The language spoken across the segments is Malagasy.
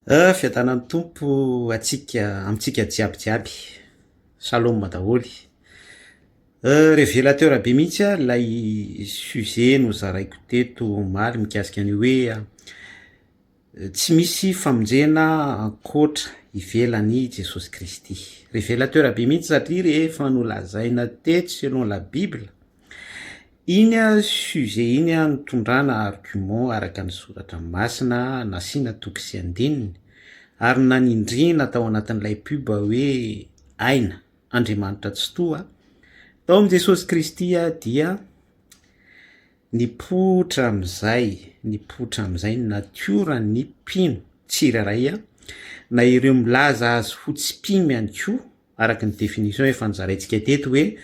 A, Fiadanan'ny Tompo atsika, amintsika jiaby jiaby. Shalom daholo. A, Revelateur be mihitsy a, ilay sujet nozaraiko teto omaly mikasika an'io hoe tsy misy famonjena ankoatra ivelan'i Jesosy Kristy. Revelateur be mihitsy satria rehefa nolazaina tetsy selon la Bible, Iny sujet iny nitondrana argument araka ny soratra masina nasiana toky sy andininy ary nanindriana tao anatin'ilay pub hoe aina, Andriamanitra Tsitoha, tao amin'i Jesosy Kristy dia nipoitra amin'izay, nipoitra amin'izay ny natioran'ny mpino tsirairay na ireo milaza azy ho tsy mpino ihany koa araka ny définition efa nozaraintsika teto hoe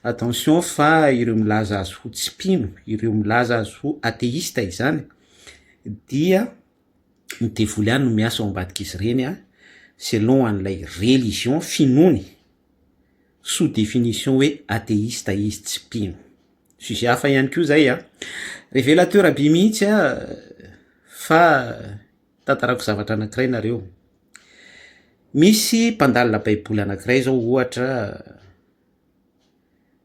attention fa ireo milaza azy ho tsy mpino, ireo milaza azy ho atheista izany dia ny devoly ihany no miasa ao ambadik'izy ireny an, selon an'ilay religion finoany, sous définition hoe atheista izy tsy mpino. Sujet hafa ihany koa izay an! Revelateur be mihitsy an! fa. Tantarako zavatra anankiray nareo. Misy mpandalina baiboly anankiray zao ohatra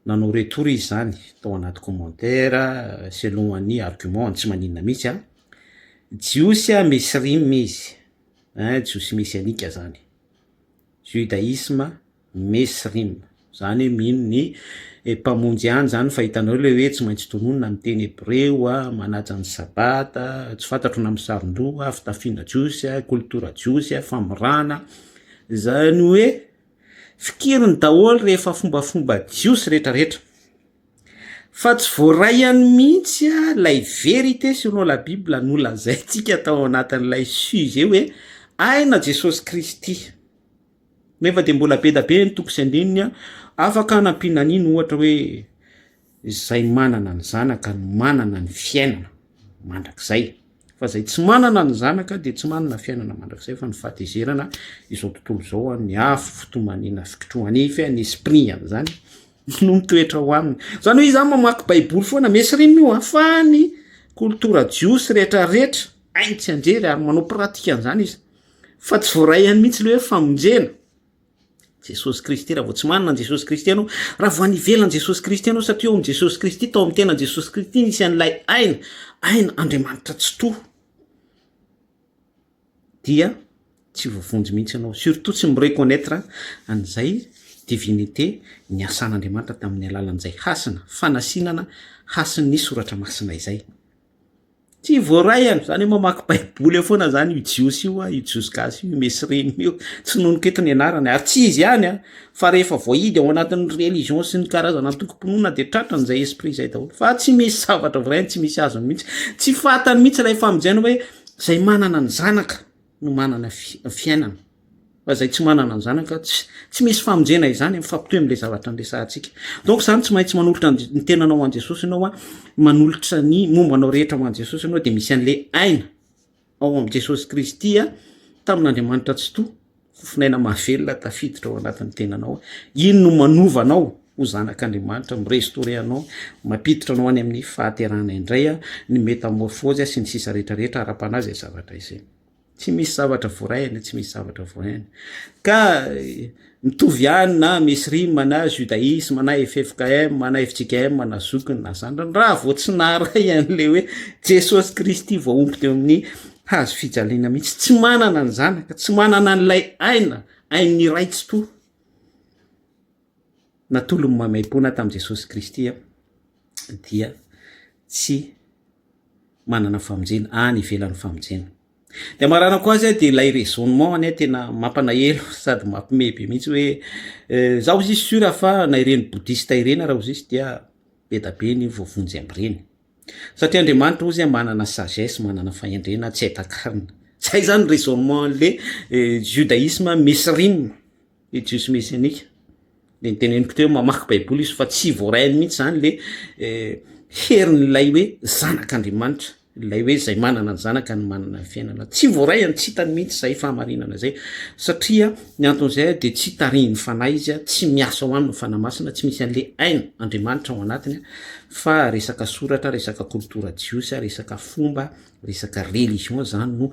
nanao retour izy zany tao anaty commentaire selon an'i argument tsy maninona mihitsy an, jiosy an misy rim izy, jiosy mesianika zany, judaisme, Mesrim, zany hoe mino ny Mpamonjy ihany zany fa hitanareo le hoe tsy maintsy tononina ny teny hebreo a, manaja ny sabata, tsy fantatro na misaron-doha a, fitafiana jiosy a, kolotora jiosy a, famorana, zany hoe fikiriny daholo rehefa fombafomba jiosy retraretra, fa tsy voaray any mihitsy a lay vérité selon la bible nolazaintsika tao anatin'ilay sujet hoe aina Jesosy Kristy. Nefa dia mbola be dia be ny tompo sy andininy an, afaka anampiana an'iny ohatra hoe izay manana ny zanaka no manana ny fiainana mandrakizay fa izay tsy manana ny zanaka dia tsy manana fiainana mandrakizay fa ny fahatezerana izao tontolo izao an, ny afo fitomaniana fikitrohanify an, ny esprit an'izany no mitoetra ho aminy. Izany hoe izy zany mamaky baiboly foana, mainstream io an, fa ny kolotora jiosy rehetra rehetra hainy tsy handrery ary manao pratika an'izany izy. Fa tsy voaray ihany mihitsy le hoe famonjena. Jesosy Kristy, raha vao tsy manana an'i Jesosy Kristy ianao, raha vao any ivelan'i Jesosy Kristy ianao, satria ao amin'i Jesosy Kristy, tao amin'ny tenan'i Jesosy Kristy nisy an'ilay aina, aina Andriamanitra Tsitoha, dia tsy voavonjy mihitsy ianao, surtout tsy mi-reconnaitre an'izay divinité niasan'Andriamanitra tamin'ny alalan'izay hasina fanasinana hasin'ny soratra masina izay. Tsy voaray an, zany hoe mamaky baiboly eo foana zany io jiosy io an, io jiosy gasy io, io mesrine io, tsy nonoko eto ny anarany ary tsy izy ihany an, fa rehefa voahidy ao anatin'ny religion sy ny karazana antokom-pinoana dia tratrany zay esprit zay daholo fa tsy misy zavatra voarainy, tsy misy azony mihitsy, tsy fantany mihitsy ilay famonjena hoe zay manana ny zanaka. no manana fiainana fa zay tsy manana ny zanaka tsy tsy misy famonjena izany mifampitohy am'le zavatra anresahantsika donc zany tsy maintsy manolotra ny tenanao ho an'i jesosy ianao a manolotra ny momba anao rehetra ho an'i jesosy ianao de misy an'le aina ao am' jesosy kristy a tamin'andriamanitra tsy toa fofinaina mahavelona tafiditra ao anatin'ny tenanao iny no manovanao Ho zanak' Andriamanitra, mi-restaurer anao, mampiditra anao any amin'ny fahaterahana indray, ny métamorphose sy ny sisa rehetra rehetra ara-panahy izay zavatra izay. Tsy misy zavatra vorahina, tsy misy zavatra vorahina. Ka mitovy ihany na mesrim na judaisme na ffkm na fjkm na zokiny na zandriny raha vao tsy naharay an'le hoe Jesosy Kristy voahombo teo amin'ny hazo fijaliana mihitsy. Tsy manana ny zanaka, tsy manana an'ilay aina, ain'ny Ray Tsitoha. natolony maimaimpoana tamin'i Jesosy Kristy dia tsy manana famonjena any ivelan'ny famonjena. Dia maranako azy dia ilay raisonnement anie tena mampanaelo sady mampime be mihitsy hoe eh, zaho zisy sur fa na ireny boudista ireny raha zisy dia be da be ny voavonjy amin'ireny. Satria Andriamanitra ozy manana sagesse, manana fahendrena, tsy aitakarina. Zay zany raisonnement le eh, judaisme misy rinona. le jiosy mesianika de niteneniko teo mamaky baiboly izy fa tsy voarainy mihitsy zany le herin'ilay hoe zanak'andriamanitra lay hoe zay manana ny zanaka ny manana ny fiainana tsy voaray any tsy hitany mihitsy zay fahamarinana zay satria ny anton'izay a de tsy tarihin'ny fanahy izy a tsy miasa ho aminy fanamasina tsy misy an'le aina andriamanitra ao anatiny a fa resaka soratra resaka koltora jiosy a resaka fomba resaka religion zany no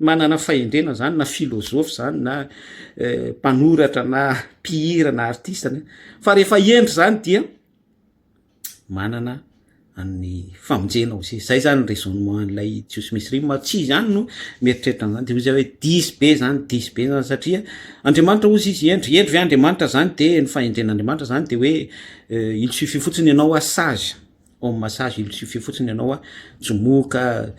manana fahendrena zany na filozofy zany na mpanoratra na mpihira na artista ny fa rehefa hendry zany dia manana an'ny famonjena ao zay zay zany raisonnement an'ilay jiosy misy rima tsy izy any no mieritreritra an'zany de ozy hoe disy be zany disy be zany satria andriamanitra ozy izy hendry hendry ve andriamanitra zany de ny fahendren'andriamanitra zany de hoe il suffit fotsiny ianao hoa sage Homme massage il suffit fotsiny ianao a jomoka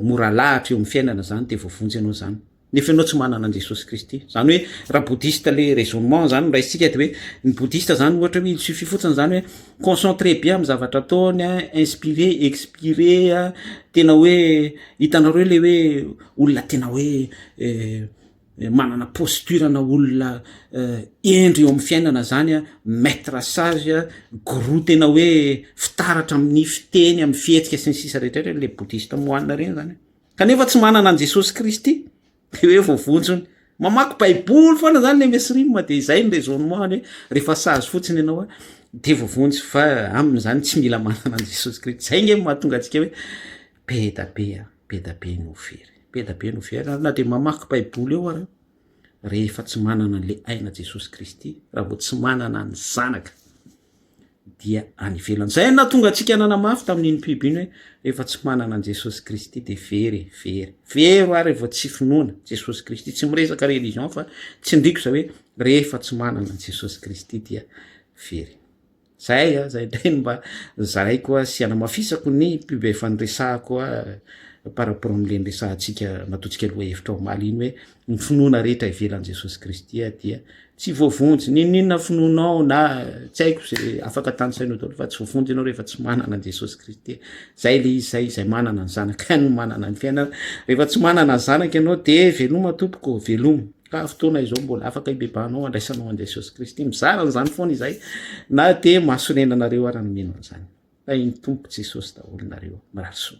mora alahatra eo amin'ny fiainana zany de voavonjy ianao zany nefa ianao tsy manana an'i Jesosy Kristy zany hoe raha boudhiste le raisonnement zany no raisintsika de hoe ny boudhiste zany ohatra hoe il suffit fotsiny zany hoe concentré be amin'ny zavatra ataony a inspiré expiré a tena hoe hitanareo le hoe olona tena hoe manana posture na olona hendry eo amin'ny fiainana zany a maitre sage a gourou tena hoe fitaratra amin'ny fiteny amin'ny fihetsika sy ny sisa rehetrartra le boudiste moanina ireny zany a kanefa tsy manana an'i jesosy kristy de hoe voavonjony mamaky baiboly foana zany le mesy rime de izay ny raisonnement any hoe rehefa sage fotsiny ianao a de voavonjy fa aminy zany tsy mila manana an'i jesosy kristy zay nge mahatonga antsika hoe Be da be a! Be da be no very. Be da be no very ary na dia mamaky baiboly eo ary rehefa tsy manana an'le aina Jesosy Kristy, raha vao tsy manana ny zanaka dia any ivelany. Zay no nahatonga antsika nanamafy tamin'iny mpiby iny hoe rehefa tsy manana an'i Jesosy Kristy dia very e, very. Very ho ahy raha vao tsy finoana Jesosy Kristy. Tsy miresaka religion fa tsindriko zay hoe rehefa tsy manana an'i Jesosy Kristy dia very. Zay a, zay indray no mba zaraiko a, sy anamafisako ny pub efa niresahako a par rapport amle niresahantsika nataontsika lohahevitra omaly iny hoe ny finoana rehetra ivelan'i Jesosy Kristy a dia tsy voavonjy, n'inon'inona finoanao na tsy haiko ze afaka tanisainao daholo fa tsy voavonjy ianao rehefa tsy manana an'i Jesosy Kristy. Zay le izy zay, izay manana ny zanaka ihany no manana ny fiainana. Rehefa tsy manana ny zanaka ianao de veloma tompoko, veloma. Ka fotoana izao mbola afaka hibebahanao handraisanao an'i Jesosy Kristy. Mizara an'izany foana izahay na dia mahasonena anareo ary ny mino an'izany. Tahin'ny Tompo Jesosy daholo nareo. Mirary soa.